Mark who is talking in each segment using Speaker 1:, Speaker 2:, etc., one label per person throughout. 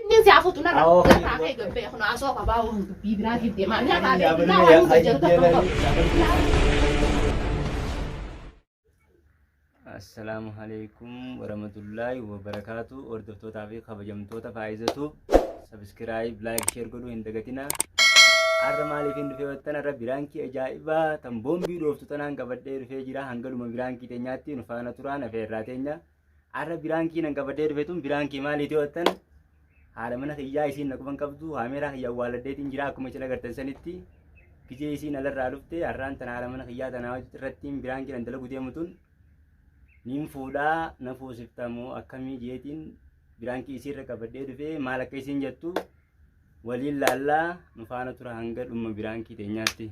Speaker 1: Inni si hafuutu narra lataa kee gabbee kun haasoo qabaa waan dubbii biraatiif deemaa inni hataa bee biraa waan hunda jedhu tokko
Speaker 2: qabu. Assalaamu alaikum warahmatullaahi wabarakaatu hordoftootaa fi kabajamtoota faayizatu sabiskiraayib laayik sheer godhuu hin dagatina har'a maaliif hin dhufee wattan har'a biraankii ajaa'ibaa tan boombii dhooftu tanaan qabadhee dhufee jira hangaluma biraankii teenyaatti nu faana turaan afeerraa teenya Arra biraankii nan qabadee dhufe tun biraankii maaliiti ho'attan haala mana kiyyaa isiin na quban qabdu haameeraa kiyya awwaaladdeetiin jira akkuma isin agartan sanitti gijee isiin alarraa dhufte har'aan tan haala mana kiyyaa tanaa irrattiin biraankii nan dalagu deemu tun nin fuudhaa na fuusiftamu akkamii jeetiin biraankii isiirra qabadhee dhufe maal akka isiin jettu waliin laallaa nu faana tura hanga dhumma biraankii teenyaatti.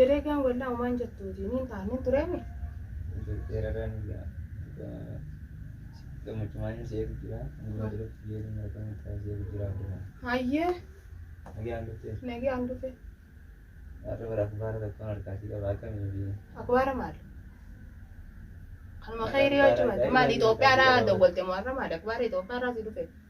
Speaker 2: Dalagaan wallaa umaan
Speaker 1: jettuuti niin ta'a niin tureemi. Hayyee
Speaker 2: nagaan dhufe akbaara maal? Kanuma khayrii hojjumate maal Itoophiyaadhaa dawwalte moo
Speaker 1: har'a
Speaker 2: maal akbaara Itoophiyaadhaa si dhufe?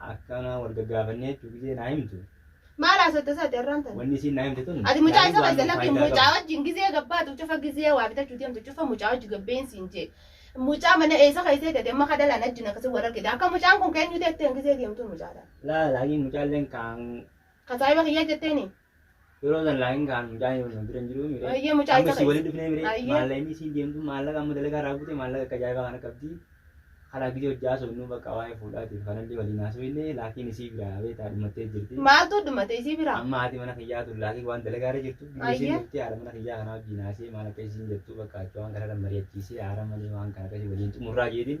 Speaker 2: Akkana wal gaggaafannee jechuu gisee naa himtu. Maal haasatta
Speaker 1: isaati har'aan tana? Wanni isiin naa himte tun. Ati
Speaker 2: mucaa isa keessa lakki
Speaker 1: mucaa wajjin gizee gabbaatu cufa gizee waa bitachuu deemtu cufa mucaa wajji gabbeen siin jee. Mucaa mana eessa keessee tete amma kadalaan ajjin akkasii wal argite akka mucaan kun keenyu teetteen gizee deemtuun mucaa ta'a. Laa laakiin mucaalleen
Speaker 2: kaan. Ka saahiba kiyyaa
Speaker 1: jetteeni? Yeroo san
Speaker 2: laakiin kaan mucaa yoo nu bira hin jiru mire. Ayyee mucaa Amma isa isii waliin
Speaker 1: dhufnee mire Ayyee.
Speaker 2: maallaqa inni isiin deemtu maallaqa amma dalagaa irraa buute maallaqa akka ajaa'ibaa kana qabdi. Kana gidee hojjaa soonnuu bakka waa'ee fuudhaatiif kanallee waliin haasofne laakiin isii biraa beektaa dhumattee jirti. Maaltu dhumate isii
Speaker 1: bira? Amma haati mana kiyyaa tun
Speaker 2: laakiin waan dalagaa irra jirtu gidee isiin Ayyee. dhuftee haadha mana kiyyaa kanaa wajjin haasee maal akka isiin jettu bakka achi waan kana irra mari'achiisee haara malee waan kana akkasii waliin xumurraa jeetiin.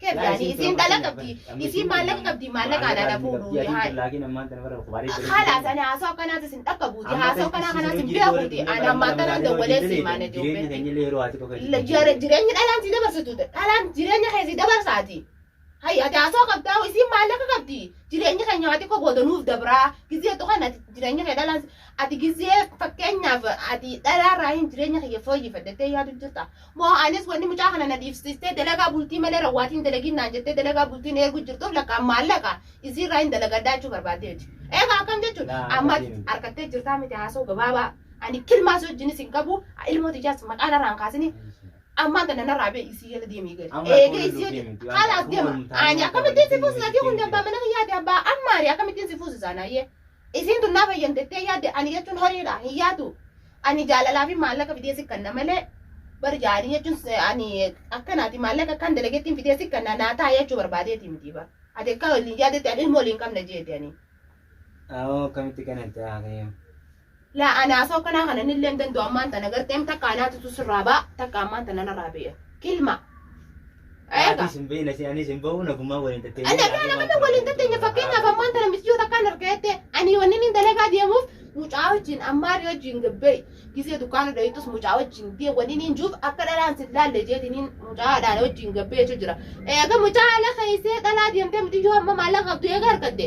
Speaker 1: Keebdaani isiin dhala qabdi isiin maallaqa qabdi maallaqa alaana fuudhu yaa'e. Haala sana haasoo akkanaas isin dhakka buuti haasoo akkanaa kanaas isin bira buuti ani amma akkanaan dawwalee si maana jiruubeetti. Jireenya dhalaan si dabarsitu dhalaan jireenya kee si dabarsaati. Hayya ati haasoo qabdaa isiin maallaqa qabdi jireenya keenya waa xiqqoo booda nuuf dabraa gizee tuqan ati jireenya kee dhalaan ati gizee fakkeenyaaf ati dhalaarraa hin jireenya kiyya fooyyeffadhettee yaadu jirta Moo anis wanni mucaa kana na dhiibsiistee dalagaa bultii malee rawwaatiin dalagiin naan jettee dalagaa bultiin eeguu jirtuuf lakkaan maallaqa isiirraa hin dalagadhaa jechuu barbaadde miti. Egaa akkam jechuun Naa amma akkasii miti. harkattee jirtaa miti haasoo gabaabaa ani kilmaas wajjinis hin qabu ilmoo tiyyaas maqaa narraa hin kaasini ammaan tana narraa bee isii jala deemii gadi. Amma Eegee kun isii deemi, hojii waan kanaaf kun deema. waliin taa'ee Ani waan akkamittiin si qabatee fuusisa deemi, kun deemi. abbaa mana kiyyaati abbaa ammaari akkamittiin si fuusisa naayyee. Isiin tun naa fayyamtettee yaadde ani jechuun horiidha hin yaatu. Ani jaalalaa fi maallaqa fidee si kanna malee bar jaalii jechuun ani akkanaati maallaqa akkaan dalageettiin fidee si kanna naa taa'ee jechuu barbaadeeti miti bar. Ati akka waliin yaadetti ani ilmoo waliin qabna jeeti ani. Awoo
Speaker 2: akkamitti kanatti haakee. Laa ani
Speaker 1: haasoo kanaa kana nillee hin danda'u ammaan tana garteem takka anaatutu sirraa ba'a takka ammaan tana narraa ba'e. Kilma. Eega. Atis hin beekne si anis
Speaker 2: hin bahu nagumaa waliin tattee. Ana fi ana mana
Speaker 1: waliin tatteenya fakkeenyaaf ammaan tana michiyoo takkaan argaa jettee ani wanni inni dalagaa deemuuf mucaa wajjin ammaarii wajjin gabbee gisee dukkaana dhoytus mucaa wajjin dee wanni inni juuf akka dhalaan sin laalle jeetiniin mucaa dhaala wajjin gabbee jechuu jira. Eega mucaa ala keessee dhalaa deemtee mixiyyoo amma maallaqa qabdu eega argatte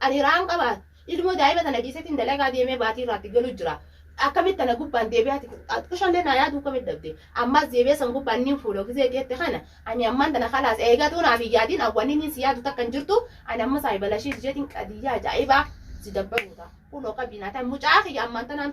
Speaker 1: Ani hiraan qabaa ilmoo daa'ima tana dhiisetiin dalagaa deemee baatii irraatti galu jira. Akkamitti tana gubbaan deebi'aati xiqqishallee naa yaaduu akkamitti dhabde. Ammaas deebi'ee san gubbaan niin fuuloo gizee geette kana ani ammaan tana kalaas eegatuu naaf hin yaadiin awwanni niin si yaadu takka hin jirtu ani amma saahibalashiis jeetiin qadiyyaa ajaa'ibaa si dabbaruu ta'a. Kunoo qabiinaa ta'a mucaa kiyya ammaan tanaan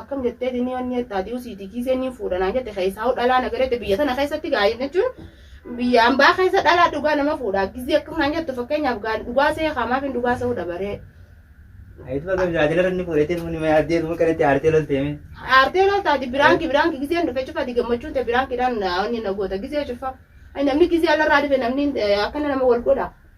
Speaker 2: Akkam
Speaker 1: jettee tinii wanni jettaa diu siitii kiisee niin fuudha naan jette keessaa'u dhalaa nagarette biyya tana keessatti gaa'in jechuun biyya ambaa keessa dhalaa dhugaa nama fuudha gizii akkam naan jettu fakkeenyaaf gaa'in dhugaa see kaamaaf hin dhugaa se'uu dabaree. Ayitu
Speaker 2: bakka gaajala irra inni fuudhee jedhu nima yaaddee dhuma kanatti aartee lolteeme. Aartee loltaati
Speaker 1: biraanki biraanki gizeen dhufe cufaati gammachuun ta'e biraankiidhaan wanni na goota gizee cufa. Namni gizee alarraa dhufe namni akkana nama wal godha.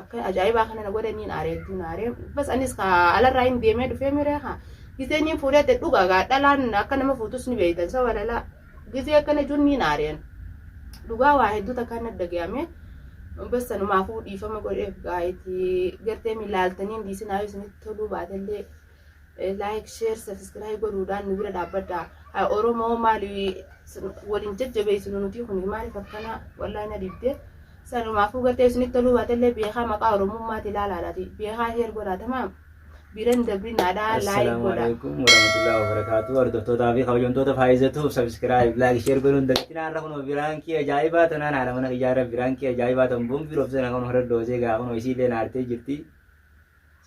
Speaker 1: Akka ajaa'ibaa kana na godhe niin aare hedduu na aare. Bas anis ka alarraa hin deemee dhufee miree ka gizee niin fuudhee te dhuga gaa dhalaan akka nama fuutus ni beeytan sa walala gizee akkana jechuun niin aareen. Dhugaa waa hedduu takkaan na dhagayame. Bas sanumaafuu dhiifama godheef gaa itti gartee milaaltanii hin dhiisinaa yoo isinitti toluu baatellee. like share subscribe godhuudhaan nu bira dhaabbadha Ha, oromoo maali waliin jajjabeessinu nuti kun maaliif akkana wallahi na dibde sanumaafuu gartee isinitti toluu baatellee beekaa maqaa oromummaati ilaalaadhaati beekaa sheer godhaa tamaam biran dabrin adhaa laayik Assalaamu godhaa alaikum warahmatullahi
Speaker 2: wabarakatuh. Hordoftootaa fi kabajamtoota faayizatuuf subscribe, like, share godhuun dagatinaa irra kunoo biraankii ajaa'ibaa tanaan haadha mana kiyyaa irra biraankii ajaa'ibaa tan boombii roobsee na kunoo irra doosee gaa kunoo isiillee naartee jirti.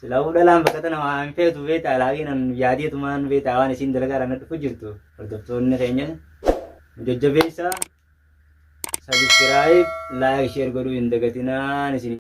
Speaker 2: Silaafuu dhalaan bakka tana waa hin feetu beektaa laakiin an yaadeetumaan beektaa waan isiin dalagaa irraa na dhufu jirtu hordoftoonni keenya nu jajjabeessaa sabiskiraayib laayik sheer godhuu hin dagatinaan isin